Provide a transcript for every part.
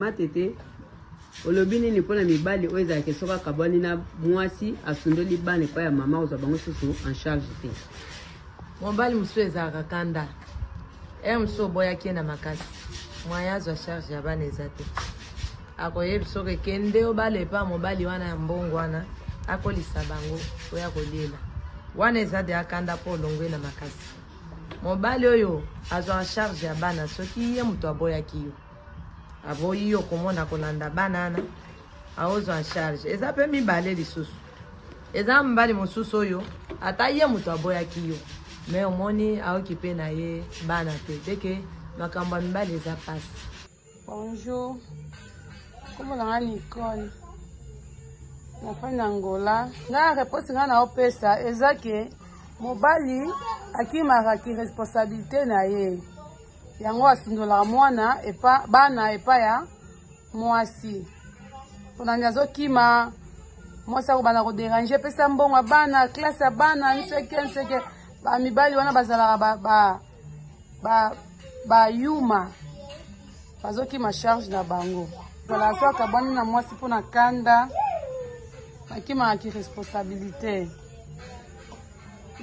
matete olobi nini mpo na mibali oyo ezalaka soki akabwani na mwasi asundoli bana epai ya mama kozwa bango susu en charge te mobali mosusu ezalaka kanda ere eh, mosusu oboyaki ye na makasi moyen azwa charge ya bana eza te akoyebi soki ekende obala epa mobali wana ya mbongo wana akolisa bango oya koliela wana eza de akanda mpo olongwe na makasi mobali oyo azwaka charge ya bana soki ye moto aboyaki yo aboyi yo komona kolanda bana wana aozwa en charge eza mpe mibale lisusu eza mobali mosusu oyo ata ye moto aboyaki yo me omoni aokipe na ye bana te teke makambo ya mibali eza mpasi bonjour kombo na nga nicole nafai na ngola nga reponse nga naopesa eza ke mobali akimaka ki responsabilité na ye yango asundolaka mwana epa bana epa ya mwasi ponani azokima mwasi akobanda koderange epesa mbongo ya bana klase ya bana nseke nseke bamibali wana bazalaka ba, ba, ba, ba yuma bazokima charge na bango zala so akabwani na mwasi mpo na kanda bakimaka kiresponsabilite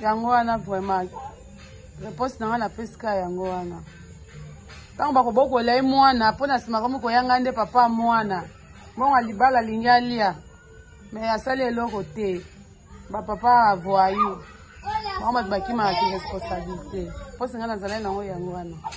yango wana vraiment reponse na ngai napesi kaka yango wana ntango bakobokola ye mwana mpo na nsima komi koyanga nde papa mwana mbongo libala alingi alia me asali eloko te bapapa avoyu bango bato bakimaka ki responsabilité mpo singa nazalai nango yango wana